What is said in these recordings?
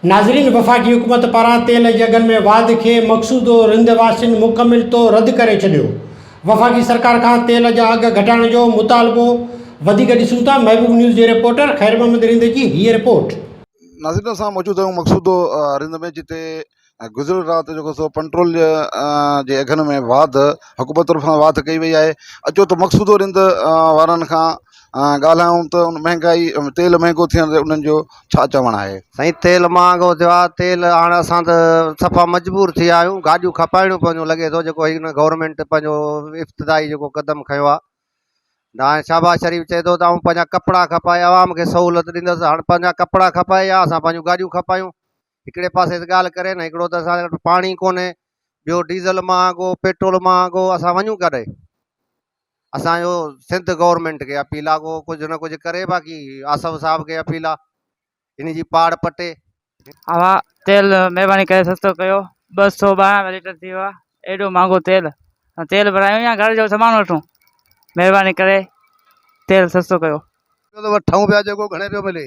ناظرين وفاقي حڪومت پاران تيل جي اگهن ۾ واڌ کي مقصودو رند واسين مڪمل طور رد ڪري ڇڏيو وفاقي سرڪار کان تيل جا اگهه گهٽائڻ جو مطالبو وڌيڪ ڏسون ٿا محبوب نيوز جي رپورٽر خيرمحمد رند جي هيء رپورٽ. ناظرين اسان موجود آهيون مقصودو رند ۾ جتي ۽ گذريل رات جيڪو سو پنٽرول جي جي اگهن ۾ واڌ حڪومت طرفان واڌ ڪئي وئي آهي اچو ته مقصودو رند وارن کان ڳالهايون ته ان مهنگائي تيل مهنگو ٿيڻ تي انهن جو ڇا چوڻ آهي سائين تيل مهانگو ٿيو آهي تيل هاڻ اسان ته صفا مجبور ٿي ويا آهيون گاڏيون کپائڻيون پونديون لڳي ٿو جيڪو هن گورنمينٽ پنهنجو افتدائي جيڪو قدم کنيو آهي نه هاڻي شهباز شريف چئي ٿو ته آئون پنهنجا ڪپڙا کپائي عوام کي سهولت ڏيندس هاڻ پنهنجا ڪپڙا کپائي يا اسان پنهنجون گاڏيون کپايون هڪڙي پاسي ته ڳالهه ڪري نه هڪڙو ته اسان وٽ پاڻي ڪونهي ٻيو ڊيزل مهانگو پيٽرول مهانگو اسان وڃون ڪڏهن اسان جو سنڌ گورنمنٽ کي اپيل آ ڪو ڪجهه نه ڪجهه ڪري باقي آصف صاحب کي اپيل آ ان جي پاڙ پٽي اوا تيل مهرباني ڪري سستو ڪيو ٻه سو ٻارهن ليٽر ٿي ويو آ ايڏو مهانگو تيل تيل ڀرايون يا گهر جو سامان وٺون مهرباني ڪري تيل سستو ڪيو ٻيو ته وٺون پيا جيڪو گهڻي پيو ملي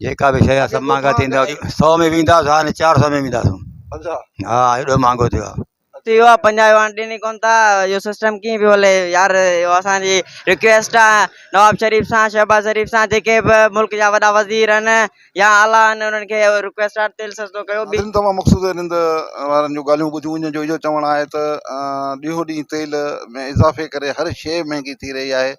جيڪا به شيء سڀ مهانگا ٿيندا سؤ ۾ ويندا سو هاڻي چار سؤ ۾ ويندا سو ها ايڏو مهانگو ٿيو آ ٿي ويو آ پنجاهه يوان ڏين ئي ڪون ٿا اهو سسٽم ڪيئن پيو هلي يار اهو اسان جي رڪويسٽ آ نواب شريف سان شهباز شريف سان جيڪي به ملڪ جا وڏا وزير آهن يا اعليٰ آهن انهن کي اهو رڪويسٽ آ تيل سستو ڪيو ٻي ناظرين توهان مقصود رند وارن جون ڳالهيون ٻڌيون انهن جو اهو چوڻ آهي ته ڏينهون ڏينهن تيل ۾ اضافي ڪري هر شيء مهانگي ٿي رهي آهي